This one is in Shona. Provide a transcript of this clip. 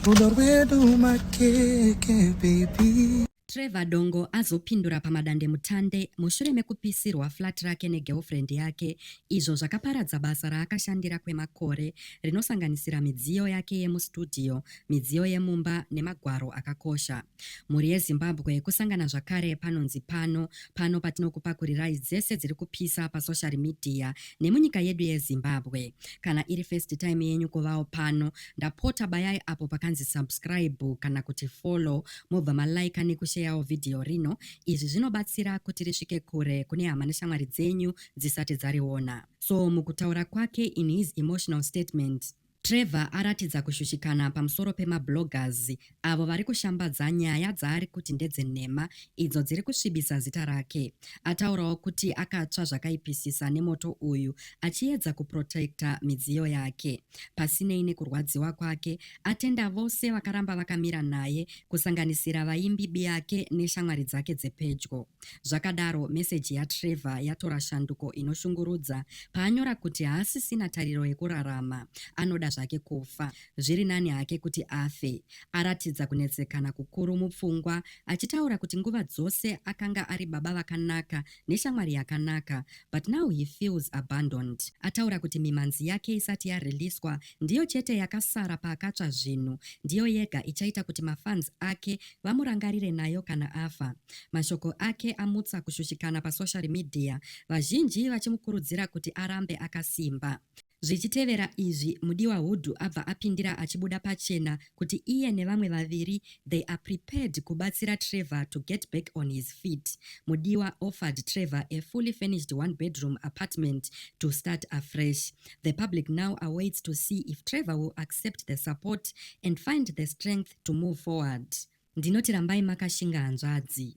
Rudo rwedu makeke baby. Trevor Dongo azopindura pamadandemutande mushure mekupisirwa flat rake negirlfriend yake izvo zvakaparadza basa raakashandira kwemakore rinosanganisira midziyo yake yemustudio, midziyo yemumba nemagwaro akakosha. Mhuri yeZimbabwe kusangana zvakare panonzi pano pano patinokupakurirai dzese dziri kupisa pasocial media nemunyika yedu yeZimbabwe. Kana iri first time yenyu kuvawo pano, ndapota bayai apo pakanzi subscribe kana kuti follow mobva malaika nekusheyawo vhidhiyo rino. Izvi zvinobatsira kuti risvike kure kune hama neshamwari dzenyu dzisati dzariona. So mukutaura kwake in his emotional statement, Trevor aratidza kushushikana pamusoro pemabloggers avo vari kushambadza nyaya dzaari kuti ndedzenhema idzo dziri kusvibisa zita rake. Ataurawo kuti akatsva zvakaipisisa nemoto uyu achiedza kuprotecta midziyo yake. Pasinei nekurwadziwa kwake, atenda vose vakaramba vakamira naye kusanganisira vaimbi biyake neshamwari dzake dzepedyo. Zvakadaro, meseji yaTrevor yatora shanduko inoshungurudza paanyora kuti haasisina tariro yekurarama, anoda zvake kufa. Zviri nani hake kuti afe. Aratidza kunetsekana kukuru mupfungwa, achitaura kuti nguva dzose akanga ari baba vakanaka neshamwari yakanaka, but now he feels abandoned. Ataura kuti mimhanzi yake isati yariliswa ndiyo chete yakasara paakatsva zvinhu, ndiyo yega ichaita kuti mafans ake vamurangarire nayo kana afa. Mashoko ake amutsa kushushikana pasoshari midhiya, vazhinji vachimukurudzira kuti arambe akasimba. Zvichitevera izvi, Mudiwa Hudu abva apindira achibuda pachena kuti iye nevamwe vaviri they are prepared kubatsira Trevor to get back on his feet. Mudiwa offered Trevor a fully furnished one bedroom apartment to start afresh. The public now awaits to see if Trevor will accept the support and find the strength to move forward. Ndinoti rambai makashinga hanzvadzi.